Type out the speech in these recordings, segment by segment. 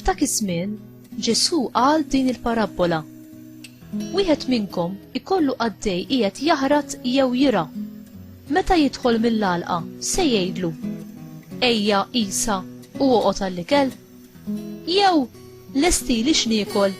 F'dak iż-żmien, Ġesù qal din il-parabbola. Wieħed minnkom ikollu qaddej qiegħed jaħrat jew jira. Meta jidħol mill-għalqa, se jgħidlu, Ejja isa u oqgħod għall-ikel? Jew, Lestili x'niekol,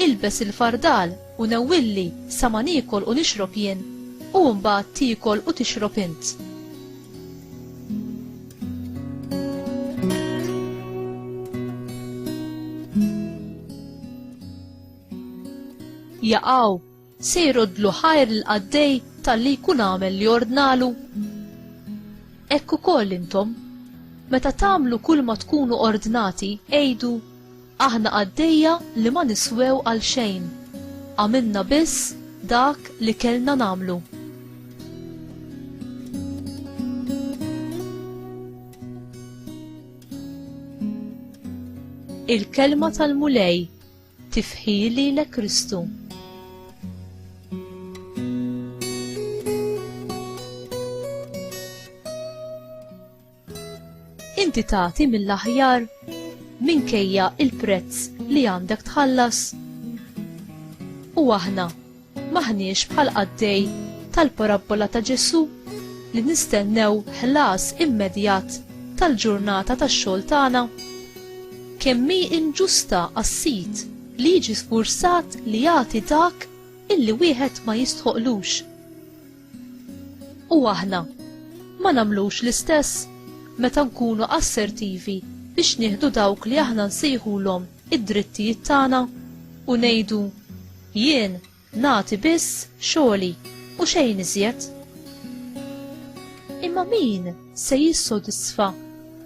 ilbes il-fardal u newwilli sa ma niekol u nixrob jien, u mbagħad tiekol u tixrob int. jaqgħu Se jroddlu ħajr l-qaddej talli jkun għamel li ordnalu? Hekk ukoll intom, meta tagħmlu kull ma tkunu ordnati, għidu, Aħna qaddejja li ma niswew għal xejn, għamilna biss dak li kellna nagħmlu. Il-kelma tal-Mulej Tifħi lilek Kristu. Inti tagħti mill-aħjar minkejja il-prezz li għandek tħallas. U aħna M'aħniex bħal qaddej tal-parabbola ta' Ġesù li nistennew ħlas immedjat tal-ġurnata tax-xogħol tagħna. Kemm hi inġusta għas-sid li jiġi sfurzat li jagħti dak illi wieħed ma jistħoqlux. U aħna ma nagħmlux l-istess meta nkunu assertivi biex nieħdu dawk li aħna nsejħulhom id-drittijiet tagħna u ngħidu Jien nagħti biss xogħli u xejn iżjed. Imma min se jissodisfa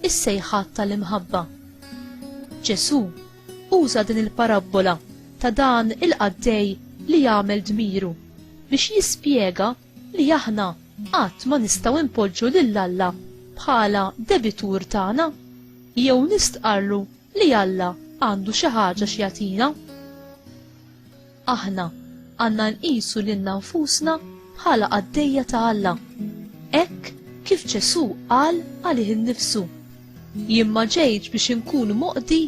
is-sejħat tal-imħabba? Ġesù uża din il-parabbola ta' dan il-qaddej li jagħmel dmiru biex jispjega li aħna qatt ma nistgħu npoġġu lil Alla bħala debitur tagħna jew nistqarlu Li Alla għandu xi ħaġa x'jagħtina. Aħna għandna nqisu lilna nfusna bħala qaddejja ta' Alla. Hekk kif Ġesù qal għalih innifsu. Jien ma ġejtx biex inkun moqdi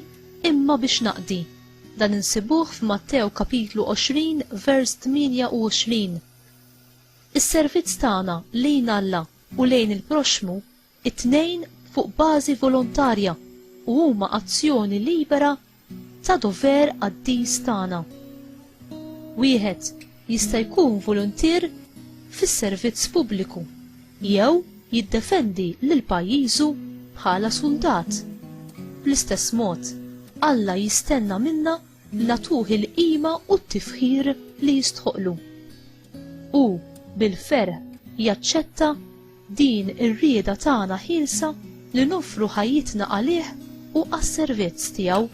imma biex naqdi. Dan insibuh f'Mattew kapitlu 20 vers 28. Is-servizz tagħna lejn Alla u lejn il-proxxmu it-tnejn fuq bażi volontarja u huma azzjoni libera ta' dover qaddis tagħna. Wieħed jista' jkun voluntier fis-servizz pubbliku jew jiddefendi lil pajjiżu bħala suldat. Bl-istess mod, Alla jistenna minna nagħtuh il-qima u t-tifħir li jistħoqqlu. u bil-ferħ jaċċetta din ir-rieda tagħna ħielsa li noffru ħajjitna għalih u għas-servizz tiegħu.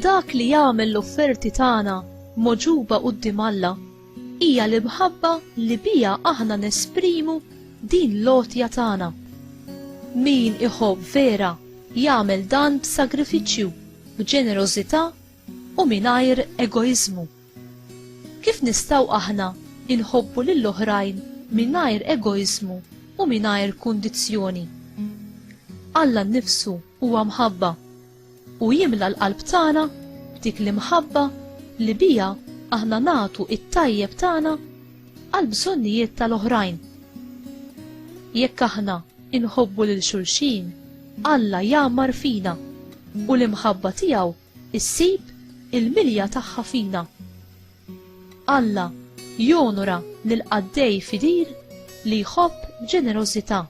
Dak li jagħmel l-offerti tagħna moġuba quddiem Alla Hija l-imħabba li biha aħna nesprimu din l-għotja tagħna. Min iħobb vera jagħmel dan b'sagrifiċċju, b'ġenerożità u mingħajr egoiżmu. Kif nistgħu aħna inħobbu lil oħrajn mingħajr egoiżmu u mingħajr kundizzjoni? Alla nnifsu huwa mħabba u jimla l-qalb tagħna b'dik l-imħabba li biha aħna nagħtu t-tajjeb tagħna għall-bżonnijiet tal-oħrajn. Jekk aħna inħobbu lil xulxin, Alla jgħammar fina u l-imħabba tiegħu issib il-milja tagħha fina. Alla jonora lil qaddej fidil li jħobb b'ġenerożità.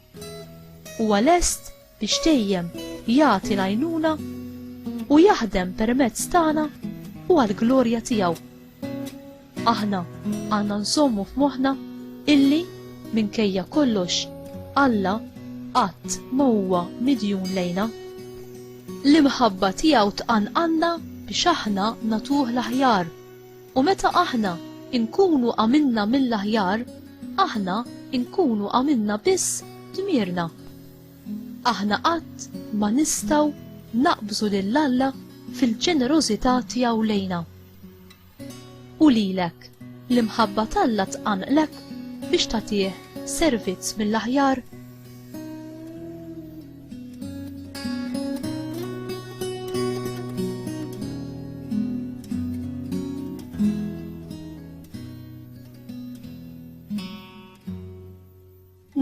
Huwa lest biex dejjem jagħti l-għajnuna u jaħdem permezz tagħna u għall-glorja tiegħu. Aħna għandna nżommu f'moħħna illi minkejja kollox Alla qatt ma huwa midjun lejna. L-imħabba tiegħu tqanqanna biex aħna natuh l-aħjar. U meta aħna inkunu għamilna mill-aħjar, aħna inkunu għamilna biss dmirna. Aħna qatt ma nistgħu naqbżu lil Alla fil-ġenerożità tiegħu lejna. U lilek, l-imħabba t'Alla tqanqlek biex tagħtih servizz mill-aħjar?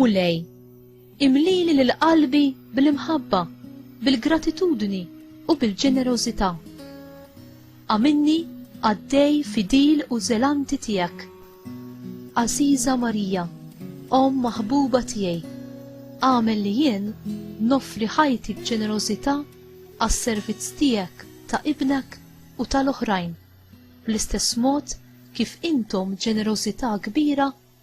Mulej, imlili lil qalbi bl-imħabba, bil-gratitudni u bil-ġenerożità. Għamilni qaddej fidil u żelanti tiegħek. Għażiża Marija, Omm maħbuba tiegħi, agħmel li jien noffri ħajti b'ġenerożità għas-servizz tiegħek ta' Ibnek u tal-oħrajn, bl-istess mod kif intom ġenerożità kbira